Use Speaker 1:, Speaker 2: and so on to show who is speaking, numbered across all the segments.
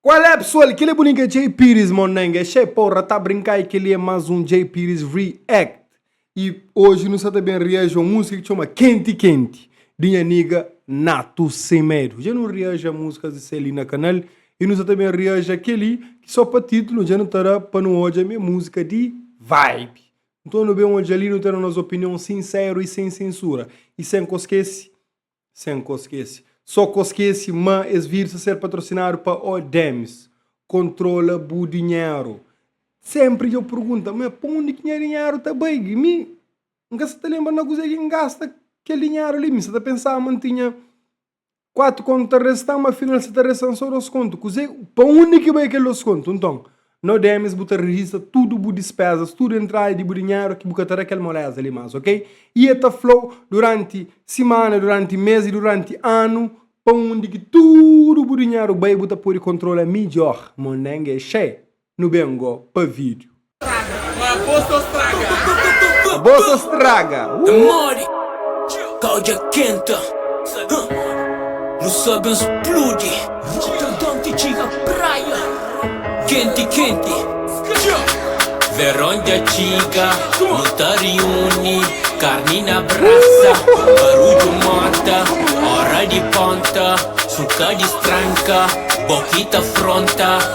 Speaker 1: Qual é pessoal, kile bolinho que é Jay Pires mon neng, é che porra, tá brincar e kile é mais um Jay Pires React e hoje nu sa ta bem reage uma música que chama Quente Quente de nha niga Nato Sem Medo, já nu reage a músicas de Celi na canal e nu sa ta bem reage a keli que só pa título já nu ta da pa nu odja, mi é música de vibe, Nton nu ben odja li, nu ten nos opinion sinseru i sen sensura, i sen koskese, sen koskese, so koskese ma es vir sa ser patrosinadu pa O Dems, kontrola bu dinheru. Senpri dja bu pergunta, ma pa undi ki nha dinheru ta bai? Mi N ka sa ta lenbra na kuzê ki N gasta kel dinheru li, mi sa ta pensa ma N tinha 4 kontu ta resta, ma afinal sa ta resta-m so dos kontu. Kuzê, pa undi ki bai kel dos kontu? Nton, no DMs bu ta rejista tudu bu dispézas, tudu entrada di bu dinheru ki bu ka ta da kel moléza li más, ok? I el ta fla-u duránti simana, duránti mês i duránti anu pa undi ki tudu bu dinheru bai bu ta pode kontrola midjór. Mondenge é xei! Nu ben go pa vídeo. Abolsa straga. É modi, ka odja kenta. Nu só ben spludi. Rotterdam ti txiga praia. Kenti kenti. Veron dja txiga. Nu ta riuni. Karni na brasa. Barudju mota. Óra di ponta. Suka distranka. Bo ki ta fronta.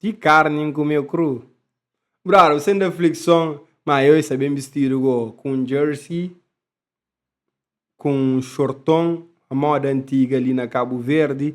Speaker 1: Ti karni N kumê kru Brother, bu sente aflikson Má eu sa ben bistidu go Ku un jersey Ku un xorton Moda antiga li na Kabuverdi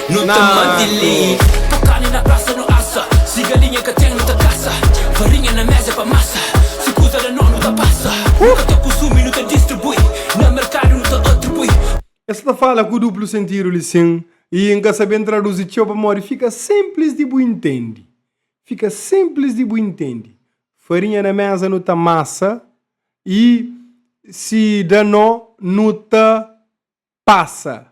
Speaker 1: Nu ta mante lei Pa karni na prasa nu asa Si galinha ka ten nu ta kasa Farinha na meza é pa masa Si kuza da no nu ta pasa Nu ka ta kunsumi nu ta distribui Na merkadu nu ta atribui. Es ta fala ku duplu sentidu li sin y N ka saben traduzi txeu pamodi fika sinplis di bu intendi. Fika sinplis di bu intendi. Farinha na meza nu ta masa y si da no nu ta pasa.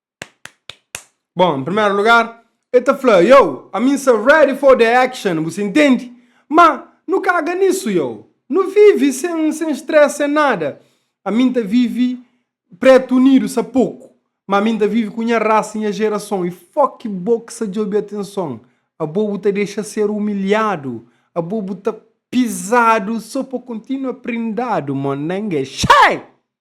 Speaker 1: Bom, em primeiro lugar, el ta fla, Yow, ami n sta ready for the action, bu sintende? Ma, nu kaga nisu, yow. Nu vivi sen, sen stress, sen nada. Ami n ta vivi Pretu Unidu sa poku, ma ami n ta vivi ku nha rasa, nha gerason. I fok bo ki sa djobi atenson. Abo bu ta dexa ser umilhadu, abo bu ta pizadu so pa kontinua prindadu, mon nenge. Xai!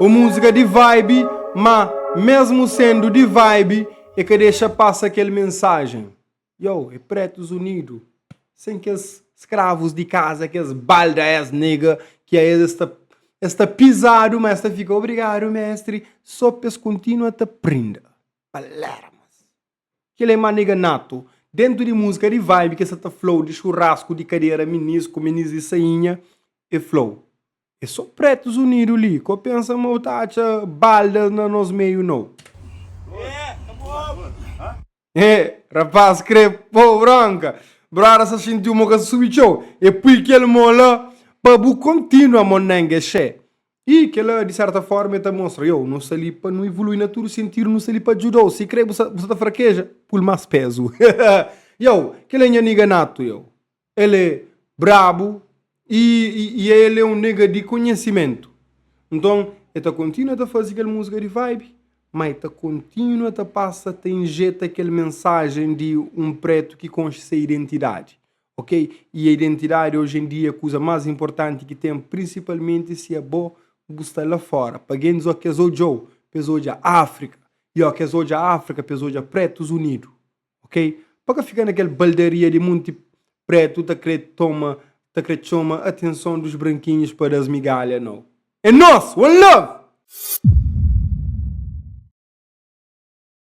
Speaker 1: O múzika di vibe, má mésmu sendu di vibe e ka dexa pasa kel mensajen. Yow, e Pretus Unidu, sen kes skravus di kaza, kes balda es nega ki a es ta es ta pizadu, má es ta fika obrigadu mestri, so pa es kontinua ta prinda. Palermas. Kel-li é manega natu. Dentu di múzika di vibe ki es sa ta fla-u di xurrasku, di kadera, minisku, minis di sainha, e fla-u, É so Pretus Unidu li, ka u pensa ma u ta atxa baldas na nos meiu nau. He, rapás kre po-u bronka. Broda sa xinti-u mo ka subi txeu, e pui kel mo la pa bu kontínua monenge xe. I kel-la, di sérta fórma, el ta mostra, Iau, nu sta li pa nu ivolui na tudu sentidu, nu sta li pa djuda-u. Sikrê bu sta ta frakeja, pul más pézu. Iau, kel-la é nha nega Natu, iau. El é brabu i el é un nega di konhisimentu. Nton, el ta kontinua ta faze kel múzika di vibe, má el ta kontinua ta pasa ta injeta kel mensajen di un prétu ki konxe se identidadi. Ok, y a identidadi oji en dia é kuza más inportanti ki ten, prinsipalmenti si é bo bu sta la fóra. Pa gentis oki es odja-u, pa es odja Áfrika, y oki es odja Áfrika, pa es odja Prétus Unidu. Ok, pa ka fika na kel baldaria di munti prétu ta kre toma, ta kre txoma atenson dos brankinhus pa da-s migalha, nau. É nos! One love!